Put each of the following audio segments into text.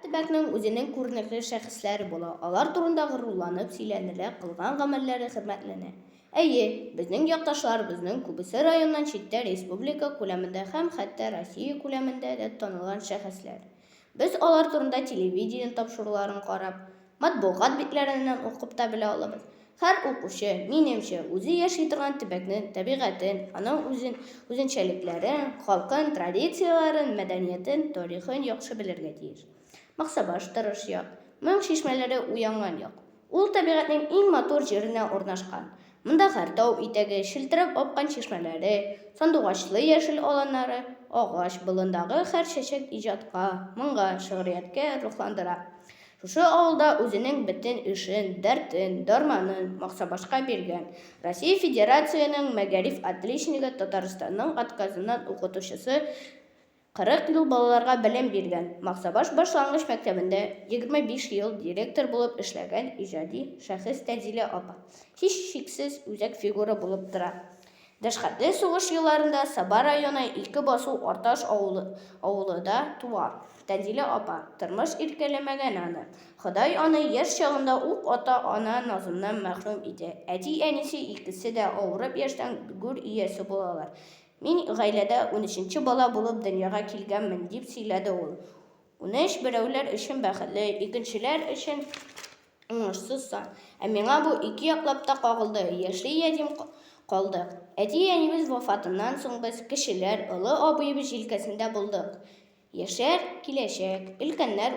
Төбәкнең үзенең күренекле шәхесләре була, алар турында горурланып сөйләнелә, кылган гамәлләре хөрмәтләнә. Әйе, безнең якташларыбызның күбесе районнан читтә республика күләмендә һәм хәтта Россия күләмендә дә танылган шәхесләр. Без алар турында телевидение тапшыруларын карап, Матбугат битләреннән укып та белә алабыз. Һәр укучы, минемчә, үзе яши торган төбәкне, табигатен, аның үзен, үзенчәлекләрен, халкын, традицияләрен, мәдәниятен, тарихын яхшы белергә тиеш. Максабаш, тырыш як. Моң чишмәләре уянган як. Ул табигатьнең иң матур җиренә урнашкан. Монда һәр тау итәге, челтерәп аккан чишмәләре, сандугачлы яшел аланнары, агач, болындагы һәр чәчәк иҗатка, моңга, шигърияткә рухландыра. Шушы авылда үзенең бөтен эшен, дәртен, дарманын Максабашка биргән, Россия Федерацияның мәгариф отличнигы, Татарстанның отказыннан укытучысы 40 ел балаларга белем биргән, Максабаш башлангыч мәктәбендә 25 ел директор булып эшләгән иҗади шәхес Тәнзилә апа, һичшиксез, үзәк фигура булып тора. Дәшкатьле сугыш елларында Саба районы Илке басу Арташ авылы авылы да туа. Тәнзилә апа, тормыш иркәләмәгән аны. Ходай аны яшь чагында ук ата ана назыннан мәхрүм итә. Әти-әнисе икесе дә авырып яшьтән гүр иясе булалар. Мин гаиләдә унөченче бала булып дөньяга килгәнмен, дип сөйләде ул. Унөч берәүләр өчен бәхетле, икенчеләр өчен Уңышсыз сан. Ә миңа бу ике яклап та кагылды, яши ятим калдык. Әти-әнибез вафатыннан соң без, кешеләр, олы абыебыз җилкәсендә булдык. Яшәр, киләчәк, өлкәннәр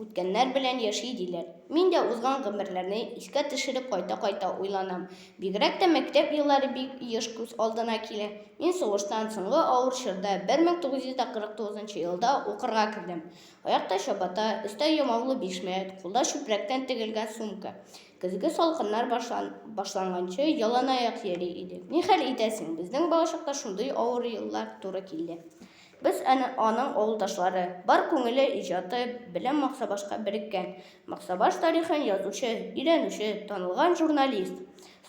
үткәннәр белән яши, диләр. Мин дә узган гомерләрне искә төшереп кайта-кайта уйланам. Бигрәк тә мәктәп еллары бик еш күз алдына килә. Мин сугыштан соңгы авыр чорда, 1949 елда укырга кердем. Аякта чабата, өстә ямаулы бишмәт, кулда чүпрәктән тегелгән сумка. Көзге салкыннар башлан, башланганчы яланаяк йөри идек. Ни хәл итәсең, безнең балачакта шундый авыр еллар туры килде. Без әнә аның авылдашлары. Бар күңеле, иҗаты белән Максабашка береккән. Максабаш тарихын язучы, өйрәнүче, танылган журналист.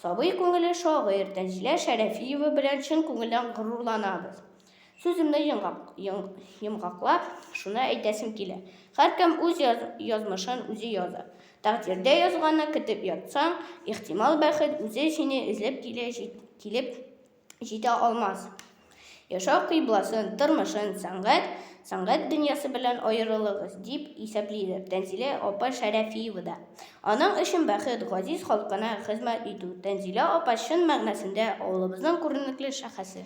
Сабый күңеле шагыйрь Тәнзилә Шәрәфиева белән чын күңелдән горурланабыз. Сүземне йомгак, йомгаклап, шуны әйтәсем килә. Һәркем үз яз, язмышын үзе яза. Тәкъдирдә язганны көтеп ятсаң, ихтимал бәхет үзе сине эзләп килә, җит, килеп җитә алмас. Яшәү кыйбласын, тормышын, сәнгать, сәнгать дөньясы белән аерылыгыз, дип исәплидер Тәнзилә апа Шәрәфиева да. Аның өчен бәхет, газиз халкына хезмәт итү. Тәнзилә апа чын мәгънәсендә авылыбызның күренекле шәхесе.